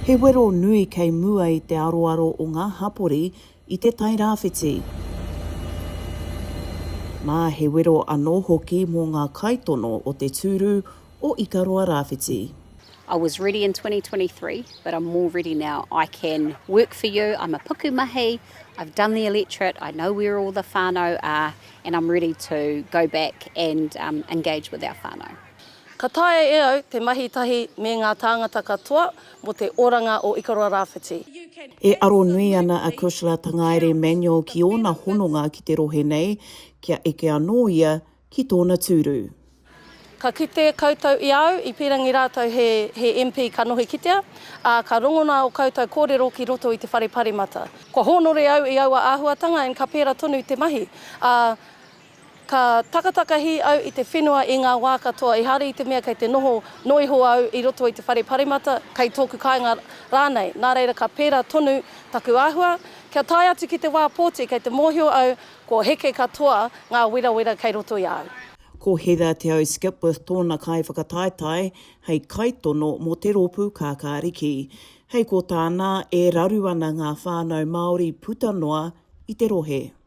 He wero nui kei mua i te aroaro o ngā hapori i te Tairāwhiti. Nā, he wero anō hoki mō ngā kaitono o te tūru o Ikaroa Rāwhiti. I was ready in twenty twenty three but I'm more ready now I can work for you I'm a puku mahi I've done the electorate I know where all the whanau are and I'm ready to go back and engage with our whanau. Ka taea e au te mahi tahi me ngā tāngata katoa mō te oranga o Ikaroa Rāwhiti. E aro nui ana a Kushla Tangaere Emanuel ki ōna hononga ki te rohe nei, kia eke anō ia ki tōna tūru. Ka kite koutou i a au, i pīrangi rātou he he MP ka nohi kitea, ā, ka rongona ō koutou kōrero ki roto i te Whare Paremata. Kua hōnore au i aua āhuatanga and ka pērā tonu te mahi, ā, Ka takatakahi au i te whenua i ngā wā katoa ehara i te mea kei te noho noa iho au i roto i te whare paremata, kei tōku kāinga rānei, nā reira ka pērā tonu taku āhua, kia tae atu ki te wā pōti kei te mōhio au kua heke katoa ngā werawera kei roto i a au. Ko Heather Te Au Skipworth tōna kaiwhakataetae hei kaitono mō te rōpū Kākāriki. Hei ko tāna, e raru ana ngā whānau Māori puta noa i te rohe.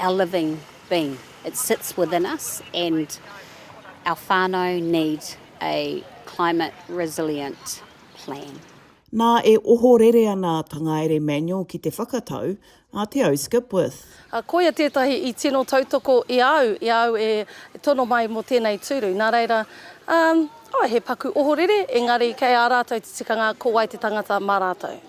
Our living being, it sits within us and our whanau need a climate resilient plan. Nā, e ohorere ana a Tangaere Manuel ki te whakatau a Te Au Skipworth. Ā, koia tētahi i tino tautoko i a au, i a au e tono mai mō tēnei tūru. Nā reira, ā, he paku ohorere, engari kei a rātou te tikanga ko wai te tangata mā rātou.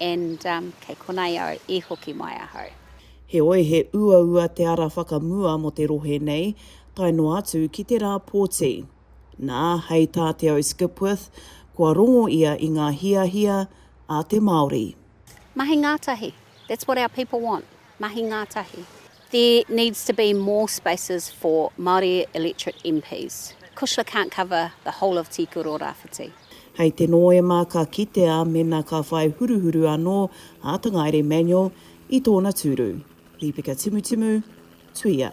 And um kei konei au i hoki mai ahau. Heoi, he uaua te ara whakamua mō te rohe nei, tae noa atu ki te rā pōti. Nā, hei tā Te Au Skipworth, kua rongo ia i ngā hiahia a te Māori. Mahi ngātahi, that's what our people want, mahi ngātahi. There needs to be more spaces for Māori electorate MPs. Kushla can't cover the whole of Tīkuru o Rāwhiti. Hei te Nōema ka kitea mēnā ka whai huruhuru anō a Tangaere Manuel i tōna tūru. Lepeka Timutimu, Tuia.